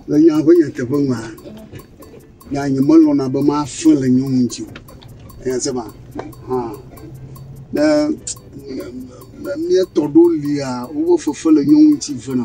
Le nya ƒe nyateƒe mea, nya nyemelɔ̃na be mafe le nyɔnu ŋuti o. Enya se ma? Hã. Ne míetɔ ɖewo lia, woƒe fefe le nyɔnu ŋuti vena.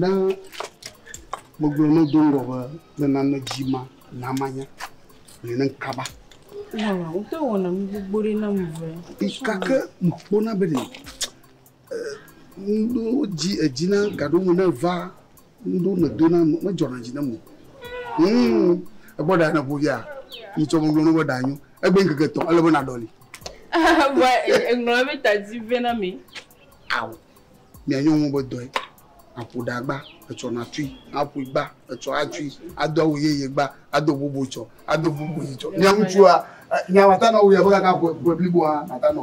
Ne megblɔ ne do ŋgɔ be ne nane dzi ma na manya le ne kaba. Wala, wotɔ wɔna mi gbogbo ɖe na mi vɛ. Ikake mkpona be ne Ŋɖo dzi edzi na gaɖo me ne va ŋɖo ne do na me dzɔ na dzi na me. Hum egbɔ ɖa ne ƒo via mi tsɔ me gblɔ ne be ɖa nyo egbe ŋkeke tɔ ele be na ɖɔli. Wa eŋlɔ mi ta dzi vɛ na mi. Awo mi anyo ŋu be dɔe aƒo ɖa gba etsɔ na tui aƒo gba etsɔ atui ado awu ye ye gba ado bobo tsɔ ado bobo yi tsɔ. Nya ŋutsua nya wata na wo ya be ka ka ƒe ƒe blibo ha ata nɔ.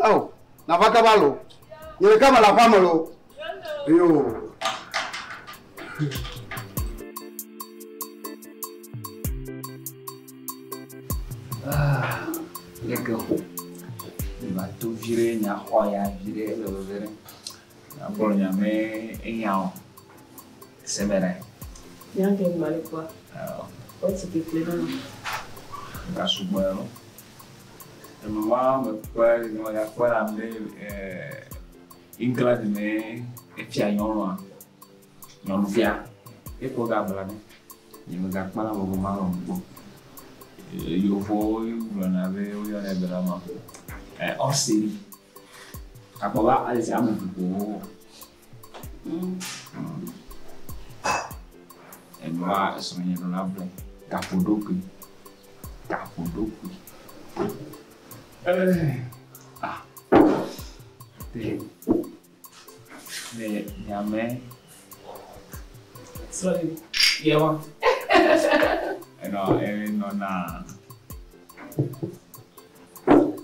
Ao, nava kaba lo. Nye ɖeka mele aƒea me lo. Yo. Ah, leke ho. Eva to vi ɖe nya xɔ ya vi ɖe le veve ɖe. Akpɔ nya me enya o. Seme ɖe. Nya ke mali kwa. Ao. Wotsi kekle na. Gasugbe lo. Nɔnɔme ma me kpɔe le nɔ ya kpɔe la be England me efia nyɔnua, nyɔnufia, ekpɔ ga bla ɖo. Nye me ga kpɔna bɔbɔ ma me kpɔ. Yevuwo gblɔna be wo yɔnɛ be lama. Ɔseri. Akpɔ be ame eve ko wo wɔ. Enɔa esrɔ̃nye ɖo la ble gaƒoɖokui. Gaƒoɖokui. Ah. Le le nyame. Sorry. Yewa. Enɔ enɔ na.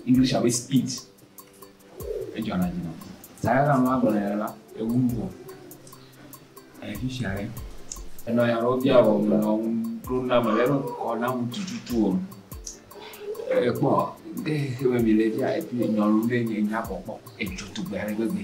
English abe speed. Edzɔna dzi nam. Zã aɖe la ame la gblɔ nɛ la, ewu nu vɔ. Ele fi sia ɖe. Enɔ nya aɖewo bia wɔm, menɔ ŋu ɖom na ame ɖe be kɔ na ŋu tututu wɔm. Èkpɔ, de xexeame mile fia, nyɔnu ɖe nye, nya kpɔkpɔ edzo tugbe ale gbegbe.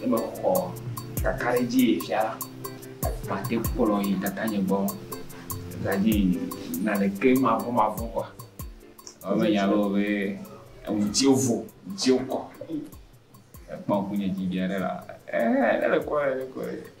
Ye me xɔ kakaɖedzi yi fia la, mate ŋu kplɔ yi tatanye gbɔ eza dzi yi naneke mavɔ̃ mavɔ̃ kɔ. Ewɔ be nya loo be eŋutsio vo, ŋutsio kɔ. Ekpɔ ŋkunye dzi viaɖe la, ɛɛ ne le kɔɛ ne kɔɛ.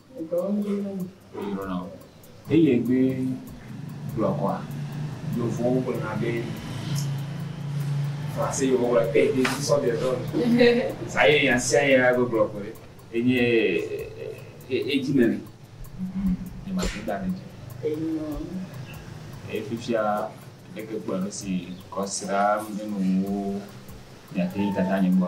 Wodrɔna o. Eye be gblɔ kɔa yovowo gblɔ na be français yovowo gblɔ na be des sont des hommes sa ye nya sia nya be gblɔ koe enye edzi nene nye ma te da ne dzi eye fifia ɖeke gblɔ nusi kɔsira menu wo nya te dada nye gbɔ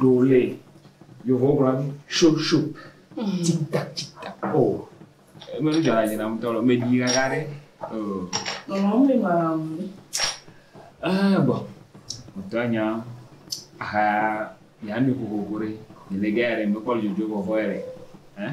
ɖo le yevu gblɔ mi sho sho tita tita o eme nu dzɔna dzi na mutɔ lɔ meɖi gaka ɖe o. mama mi ma mi. aa bɔ mutɔ nya aha nya mi kokoko ɖe ne ne gɛ yɛrɛ mekpɔ le dzodzo vɔvɔ yɛrɛ ɛn.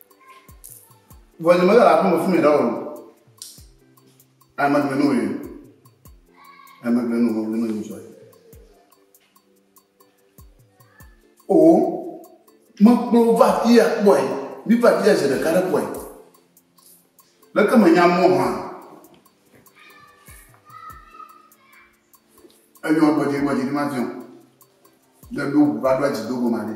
Vɔ nye mele aƒeme fún mi ɖa o. Ame gbe nu yi. Ame gbe nu mo gbe nu yi sɔ. O me kplo va ti ya kpɔe. Mi va ti ya je ɖeka ɖe kpɔe. Leke me nya mo hã. Enyo gbɔdzi gbɔdzi ni ma fiɔ. Ɖe ɖo va ɖo dzi do go ma ɖe.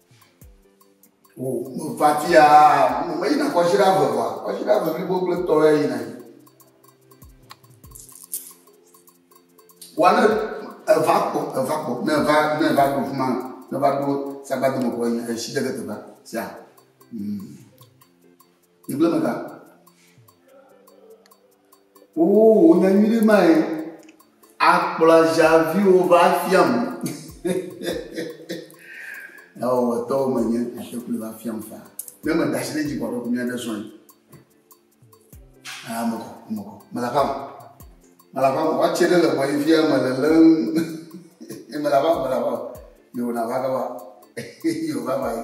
Vafia meyina kɔsiɖa eve vɔa, kɔsiɖa eve blibo kple tɔ ya yina yi. Wa ne eva kpɔ, eva kpɔ, ne eva ne eva ɖo fima, ne eva ɖo sagbadome kpɔ yi esi ɖe ke teƒe sia. Mm. Yigblẽ me ga. Oo, wònya nyui ɖe mae. Akplɔ aʒaviwo va fiam. Ewɔwɔtɔwo menye, ate kple va fiam fa. Ne meda asi ɖe dzi kɔ ɖe mía ɖe zɔe. Ah, mekɔ, mekɔ. Mele aƒa me. Mele aƒa me. Woatse ɖe le mɔ yi fia mele lé ŋu. Mele aƒa me, mele aƒa me. Yewona va gava. Yewova va yi.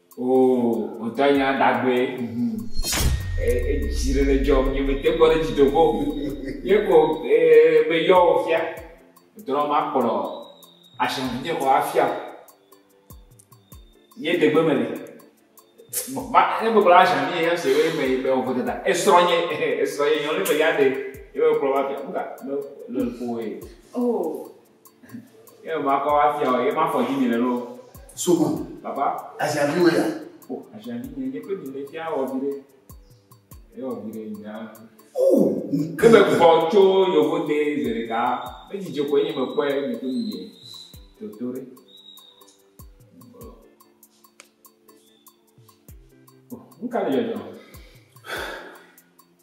Oo, ŋutɔ nya dagbe. Edzi ɖe le dzɔm nye mete kpɔ ɖe edzi do go. Ye ko ee be yɔ wò fia. Drɔm makplɔ ashiaŋunyie kɔ afia wò. Ye degbe me ɖe. Ma ne gbe kpla ashiaŋu nye ya se be me yi be wò ƒe dada. Esrɔ nye esrɔ nye nyɔ ne be ya de. Ye be kplɔ wafia. Ŋka le le ƒo ye. Oo. Yɛ ma kɔ afia o, yɛ ma fɔ dzi mi le lɔ. Sogo. Papa. Aziavi wɔ ya. O, aziavi mi ne pe mi le fia wɔ vi ɖe. Yɛ wɔ vi ɖe nya. O, mi ke. Me kpɔ tso yovo te ze ɖeka. Me dzi dze ko ye me kpɔ ye mi ko mi ye. Toto ɖe. Nka le yɔyɔ.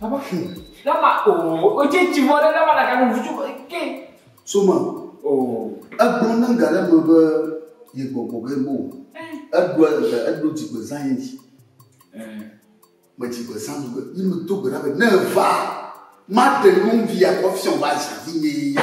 Baba fu. Lama o o dze tsi vɔ ɖe lama ɖaka nu vutu ke. Soma. O. Egblɔ ne ga ɖe me be ye gbɔgbɔ ge bo. Eɖo eɖo dzigbe zã ye dzi. Me dzigbe zã nu be yi me do gbe ɖa be ne va ma te nyɔnvi akɔ fiɔ ba zã vi nye ya.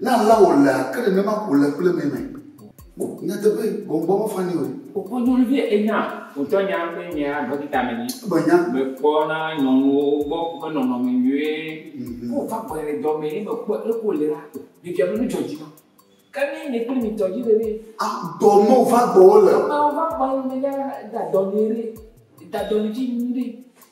Ne alea wòlea, ke nenema ko le kple mɛ mɛ. Nyateƒe, gbɔngbɔn mefa nɛ o. Wokpɔ nyɔnuvi enya wòtsɔ nya be nye ya ɖɔkita me nyi. Ebe nya. Mekpɔna nyɔnuwo gbɔ woƒe nɔnɔme nyuie. Mm-hmm. Wo va gbɔe le dɔ me ye mekpɔ leke wòle la, ɖevia ƒe nu dzɔ dzi nam. Ke ne nye kple mi tɔ dzi le ɖe? A, dɔ me wòva gbɔ wole. Dɔ me wòva gbɔ wole ɖe, da dɔ nɛ ɖe, da dɔ nɛ dzi nyuie ɖe.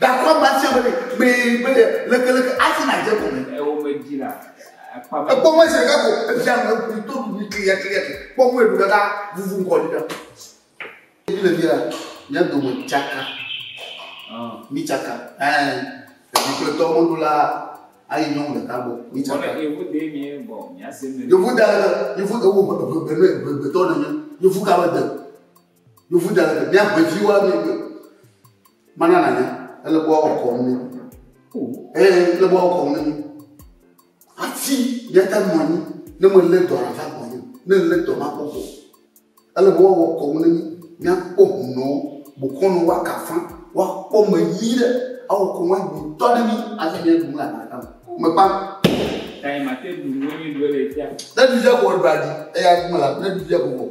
Gakpɔ ame sia ame kpee be lekeleke afi nadze egɔme. Ewo medzi la, akpa be. Ekpɔ mɔ zi ɖeka ko evia nɔ ekui to ɖuɖu kliya kliya ke kpɔ mɔ eɖu ɖeka vuvu ŋkɔ ɖi ɖa. Ebi le fi la, mía dome tsaka. Mi tsaka. Ɛɛ, ebi kple tɔ mɔɖo la ayi nyɔnu ɖeka gbɔ. Mi tsaka. Wɔle yevu de mi bɔ mía se me. Yevu da yevu ewo egbegbe ne egbegbe tɔ nenye. Yevu ka be de. Yovu da le mia ʋe dzi wa mi gbe. Mana na nya ele bo wa kɔ mi. Eh le bo wa kɔ mi. Ati ya ta mo ni ne mo le do ara fa ko ni ne le do ma ko ko. Ele bo wa kɔ mi ni mia ko no bo ko no wa ka fa wa ko me yi le a wo ko wa ni to de ni a ti ne du la na ta. Me pa. Kai ma te du mo ni do le ja. Ne du ja ko ba di e ya mo la ne du ja ko.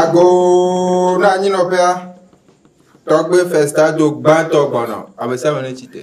Agoo na anyinɔƒea. Tɔgbe festa do gbãtɔ gbɔnɔ. Ame sia ame netsi tre.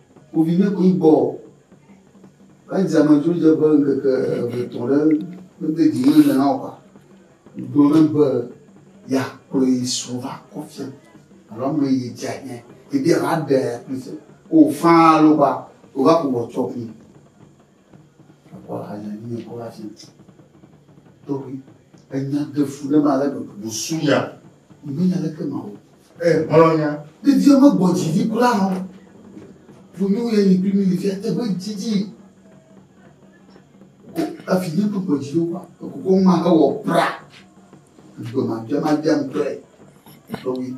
Kpoviɖekui gbɔ o. Edze amedzro dze ƒe ŋkeke eve tɔ ɖe mede dzi me na o. Gblɔ na be ya kplɔe srɔ̃ va kɔ fia alo ame yi dze anya ebe ya va ɖe kple fia. O faa lo ba o va ko wɔ tsɔ kple. Ekpɔ hanya nyui ekɔ ɖe asi. Tobi, enya de fu ɖe ma ale gbegbe. Busu ya, mi me nya leke ma o. E, hɔlɔ ya, mi viwo me gbɔ dzi vi kura nɔ. Funyu ye yi kpi mi vi ate be dzi dzi. Ko afi nye kpukpɔ dzi do kwa. Ko ko ma he wɔ pra. Gbema dema dema pre. Tobi.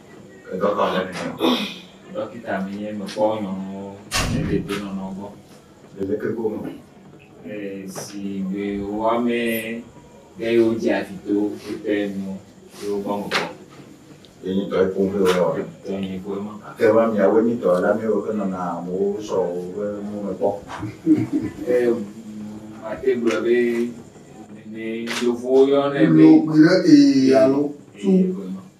Dɔkita le mi me. Dɔkita mi nye mekpɔ nyɔnuwo ne ɖeɖe nɔnɔ gbɔ. Ɖeɖe ke gome. Si gbe woame ɖe yewo dzi atito wotɛ nu yewo gbɔ me kpɔ. Yenyi tɔ ekun ƒe wɔ. Tɔ yenyi ƒe ma. Ke ma miawo nyi tɔ la mi woƒe nɔnɔ amewo sɔ woƒe nu me kpɔ. Mate gblɔ be ne yevuwo yɔ ne be. Logbe ɖe ee alo tu.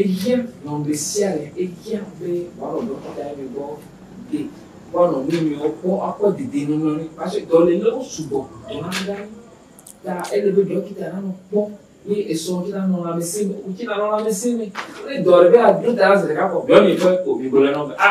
Ehiã nɔ ŋɖesiaɖe, ehiã be woanɔ ɖɔkitaɛmɛ gbɔ de woanɔ nuinyuiwo kpɔ akpɔ dedenɔnɔ ni parce dɔlelewo sugbɔ dɔna ɖa ni ta ele be ɖɔkita nanɔ kpɔ be esɔ ŋtsi nanɔ lãmeseme ŋtsi nanɔ lãmeseme ne dɔɖe be ado ta la zeɖeka kpɔ miɔ mikpɔɛ kpo migblɔɛ nɔ be a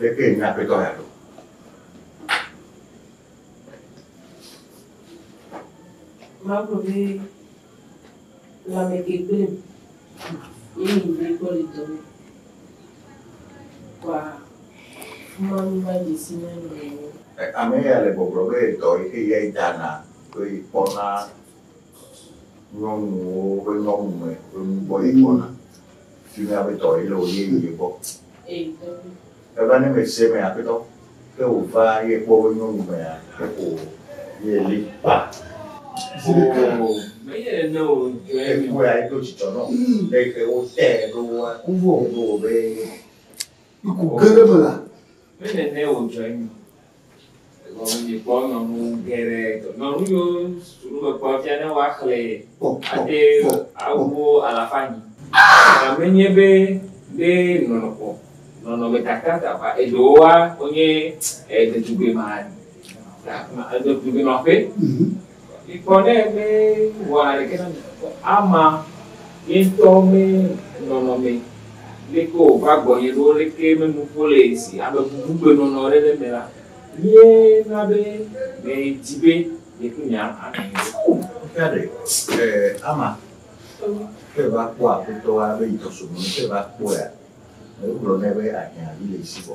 Leke nye aƒetɔ ya ɖo? Mawu gblɔ be lãme ke kple mi ye mi be kpɔ le dɔ me. Kɔa Mawu va dze si na mi nɔewo. Ame ya le gbɔgblɔ be dɔ yi ke ya dana kple kpɔna Nyɔnuwo ƒe nyɔnu me ƒe nu gbɔ ye kpɔna. Fi mi aƒetɔ ye le wo ye ye gbɔ. Eva ne me se me aƒetɔ ke wo va ye kpɔ wo nyɔnu me a ke ko ye li pa. Zilike o me ye ne o jɔ ye mi. Wo ya ye do jijɔ nɔ. Eke wo te do wa. Wo vo. Wo be. Ku ge ɖe eme la. Mele ne wòdzɔ eme o. Egɔme dzi kpɔ nyɔnu geɖe. Nyɔnu yiwo sukulu mekpɔ fia ne woaxlẽ ade awuwo alafa anyi. Aa! Menye be be nɔnɔkpɔ nɔnɔmetata ta va eɖewoa wonye ɖetugbema ɖetugbema ƒe. Mikpɔ ne mewɔa naneke na mi, ke ama ye ŋutɔ me nɔnɔme ɖe ke o va gbɔnye ɖo leke me nuƒo le esi ame bubugbe nɔnɔ ɖe ɖe me la, ye na be me di be nye kple mi a nɔ anyi. Ŋkea ɖe e ama ke va kpɔ aƒetɔ wa be yi tɔso me ke va kpɔea, me gblɔ nɛ be ahiã vi le esi vɔ.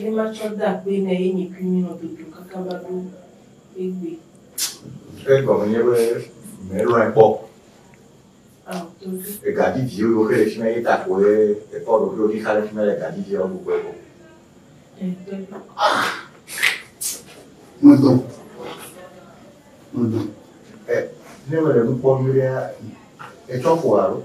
Ne matsɔ de akpoe na ye nye kui nyrɔ dodo kaka va ɖo egbe. Ke gɔme nye be mèlɔ̃e kpɔ o. Ao, dodo. Ega didi wo ɖokuiwo ɖe fi ma ye ta koe èkpɔ ɖokuiwò ɖi xa ɖe fi ma le ega didi wo ɖokuiwo gbɔ. Ɛ, dodo. Ah! Medɔ. Medɔ. Ɛ, ne mele nu kpɔm nyuiɖea, ètsɔ ƒoa alo?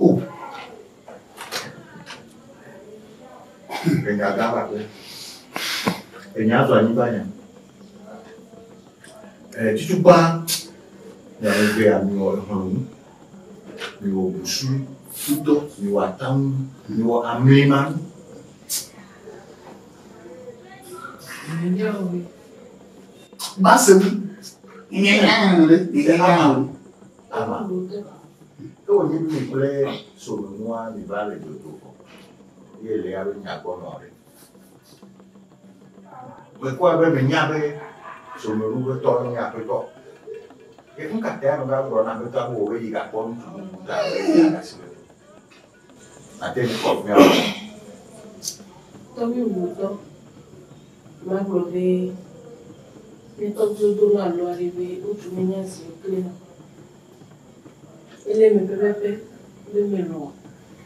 Oh. Enya gã aɖe. Enya do anyigba nya. Eh, tutukpa. Nya me gbé ami wɔ ehɔn nu. Mi wɔ busu, futɔ, mi wɔ atamu, mi wɔ amé ma. Enya wɔ. Bá se mi. Enya wɔ. Enya wɔ. Laban ɖo te na wo. Ke wònyi nu mi kple srɔ̃nyɔnua miva le dzodzo vɔ, eye Lea be nya gbɔ nɔ ɖe. Mekpɔe be mènya be srɔ̃nyɔnu ƒe tɔ nye aƒetɔ. Ke nu ka tae meva gblɔ na aƒetɔa be wòbe yigakpɔ ŋutsu bubu ta be yeaɖe asi le ŋu? Ate ŋu kɔ ŋea me. Tɔwui wutɔ magblɔ be ne tɔwuiwo do la alo aɖe be wotu ne nye zi kple na. Ele me pɛpɛpɛ be melɔ̃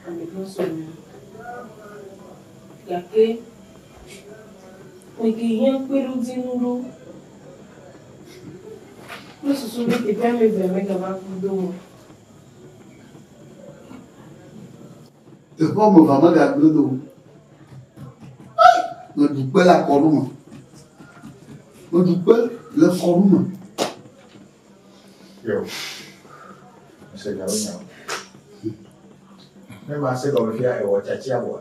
ame ɖe sɔ me o. Gake mete hiã kpeɖodzinu ɖo kple susu be teƒe ameve megava ku do o. Teƒe woame evea megagblẽ ɖo. Meɖu kpe le akɔnu me. Meɖu kpe le kɔnu me. Yo. Mise gawo nya. Ne ma se gɔme fia ewɔ tsatsia bɔa.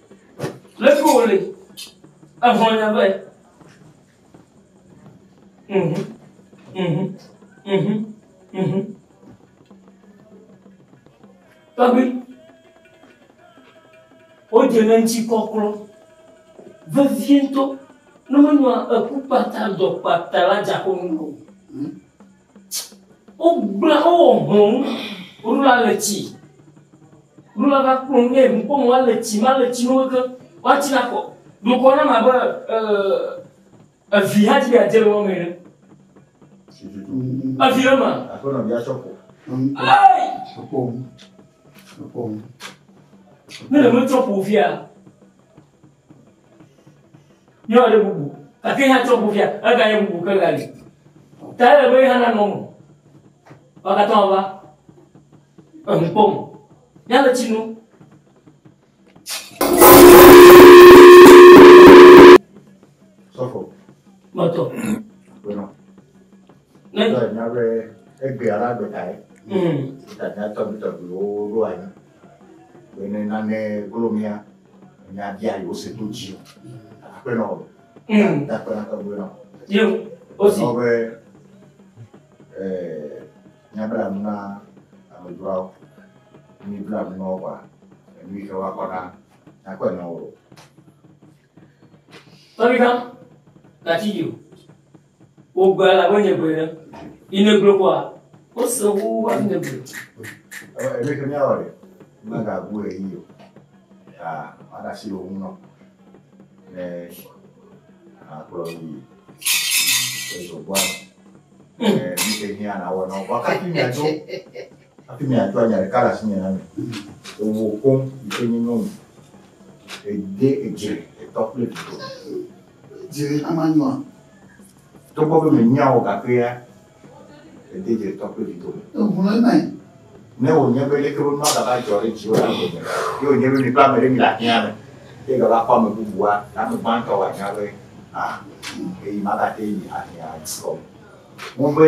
Leke wòle? Exɔ nya be. Mhm. Mhm. Mhm. Mhm. Tɔgbi. Wodze ɖe ŋuti kɔklɔ. Vevie ŋutɔ. Ne menɔa eku kpata dɔ kpata la dzaƒo nu o. Wogblẽ, wowɔ hlɔ̃nu, woɖo la le tsi. Ɖo la va kplɔ nu eye nukpɔmɔ la le tsi, ma le tsi nu ke, woatsi la kɔ. Ɖokɔ na ma be evi hã dzi be adze le wɔme ene. Evi le ma. Aƒenɔ bia tsɔ kɔ. Ei! Ekpɔ ŋu. Ekpɔ ŋu. Ne le metsɔ ƒo via. Nye ɔde bubu, gake ya tsɔ bufia, ega ye bubu ke gali. Ta ele be ya nanɔ mo. Wakatɔ ava, enu kpɔ mo. Ya le tsi nu. Sɔfo. Mɔtɔ. Gbɔnɔ. Ne. Tɔ nya be egbe ala gbeta ye. Mm. Tanya tɔbi tɔbi wo ɖo anyi. Bene nane glo mia nya dia yo se to ji. Akpe no. Mm. Da kpe na kpe no. Yo. Osi. No be eh nya bla na amedua. Ni bla no wa. Ni ke wa kona. Akpe no. Tolita. Kati yo. Wogbe la wonye gbe ɖe. Ine glo kwa. Ose wu wa ne gbe. Ebe ke mia wale. Ma ga bu e yo. Ah, ada si lo uno. Ne a klo yi. Ezo kwa. Eh, mi ke ni ana wa no. Kwa ka ti mi ajo. Ati mi ajo anya kala si ni na mi. Owo kom ikeni no. Ede eje, etokle. Dze ama nyɔa? Togbɔ be mènyea o gake ya ède dze tɔ kple vido me. Eŋlɔe mae. Ne wònye be leke be nua gava dzɔ ɖe dziwò la gome, ye wònye be mi kple ame ɖe mile ahiã me, ye egava kpɔ ame bubua, le ame gbãtɔ wòanya be, aa, ɣeyiɣi ma katã ye mi ahiã dukɔ me. Ŋugbe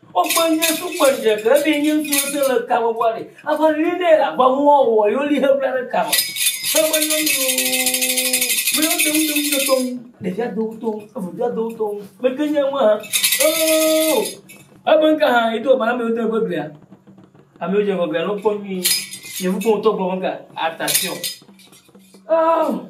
Wogbe nyuie so kpɔ ŋdre ke ebe nye ŋutsu ɖe se le ka me bɔ le. Afa nyuie ɖe le agba mu wɔwɔ wɔ yoli he bla ɖe ka me. Ebe nye ŋutsu me yɔ dem dem de tɔm. Ɖevia do ŋutɔ evu ɖevia do ŋutɔ. Me ke nye ŋu ha. Oo. Ebe nka ha edo agba na me yɔ dem ebe glia. Ame yɔ dze ŋgɔ glia no kpɔ nyuie. Nye ŋutɔ ŋutɔ gbɔ me ka attention. Oh.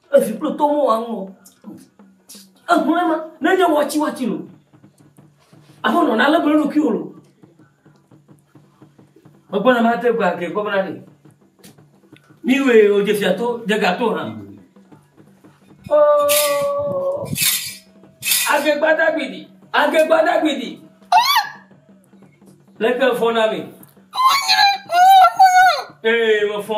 Evi kple tɔ mɔ aŋɔ. Ehlɔe ma, nenye wɔtsi wɔtsi lo. Abe nɔna ale gbele ɖokui wolo. Megbɔna ma te gba ke kɔ bena ɖe. Mi we o dze fia to, dze ga to hã. Oh! Age gbada gbidi, age gbada gbidi. Leke fɔna mi. Ee, me fɔ.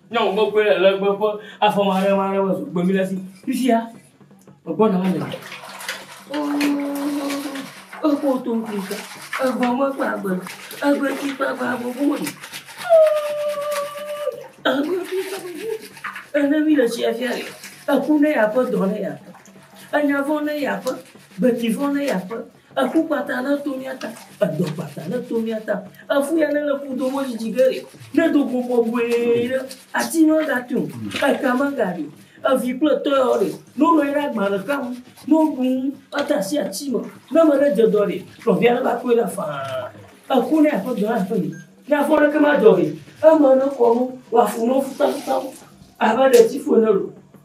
Nyɔnu gbogbo le le gbɔ gbɔ afɔ ma ɖe ma ɖe me zu gbemi le si fifia egbɔ na le. Egbɔ to nkli ka egbɔ me kpa gbe egbe ti kpa gbe agbogbo me. Egbe ti kpa gbe ene mi le tsia fia le eku ne ya ƒe dɔ ne ya ƒe enyavɔ ne ya ƒe gbeti vɔ ne ya ƒe. Eƒu kpata neto mía ta, edɔ kpata neto mía ta, eƒu ya nele ƒu do wo dzidzi ge ɖe, nedo go bɔbɔe ɖe, ati magate o, eka magaɖi o, evi kple tɔ yawo ɖe, ne wonɔ anyi ɖe agba ɖeka ŋu, ne woɖu nu ade asi ati me, ne ame ɖe dze dɔ ɖe, nɔvia neva kpɔe ɖa faa. Eku ne aƒe dɔ aƒe me, ne afɔ ɖeke madzɔ ɖe, eme nekɔ nu wòafu nu taŋtaŋ abe ɖetifu ene loo.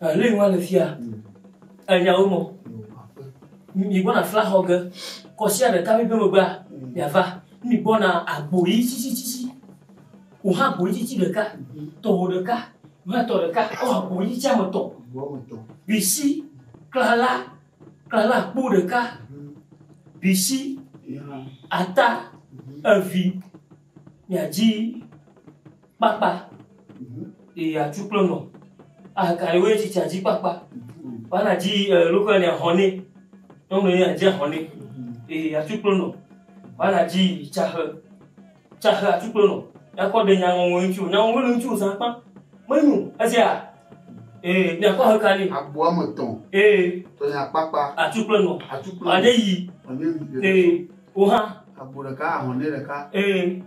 Ehlin wa le fia. Enya wo mɔ. Mi gbɔna fla xɔ ge. Kɔsia ɖeka mi beme gba. Ya va. Mi gbɔna agbo yi tsitsi tsitsi. O ha agbo yi tsitsi ɖeka. Tɔ wo ɖeka. Ma tɔ ɖeka. O agbo yi tsitsi ame tɔ. Bisi. Klala. Klala kpo ɖeka. Bisi. Ata. Evi. Miadzi kpakpa yi atsu kple nɔ. Ahakaye woe tsi tsa dzi kpakpa. Wana dzi lóƒe ne ahɔnɛ. Nyɔnu ne adzi ahɔnɛ. Yi atsu kple nɔ. Wana dzi tsaxe. Tsaxe atsu kple nɔ. Yakɔ ɖe nya ŋɔŋɔ ŋutsi o. Nya ŋɔŋɔ le ŋutsi o zã kpã. Menyo. Ezea? Ee, miakɔ aheka ne. Agbo ame tɔ̃. Ee. Tɔnya kpakpa. Atsu kple nɔ. Atsu kple nɔ. Wane yi. Wane yi. Ee. Oha. Agbo ɖeka, ahɔnɛ ɖeka. Ee.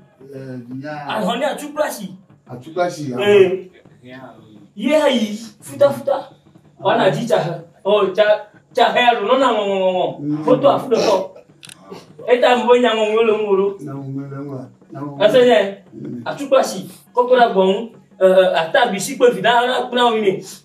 Dunya. Ahɔnɛ atukplasi. Atukplasi. Ee. Ye hã yi futafuta. Wana dzi tsa he. Ɔ tsa tsa he alo nɔna ŋɔŋɔŋɔ. Mm. Foto afu ɖe kɔ. Eta mi be nya ŋɔŋɔ le ŋgɔ ɖo. Nya ŋɔŋɔ le ŋgɔ. Ese nye mm. atukplasi kɔkɔ ɖe agbɔnu. Ata bisi kple vi ɖe hã kple awo mi.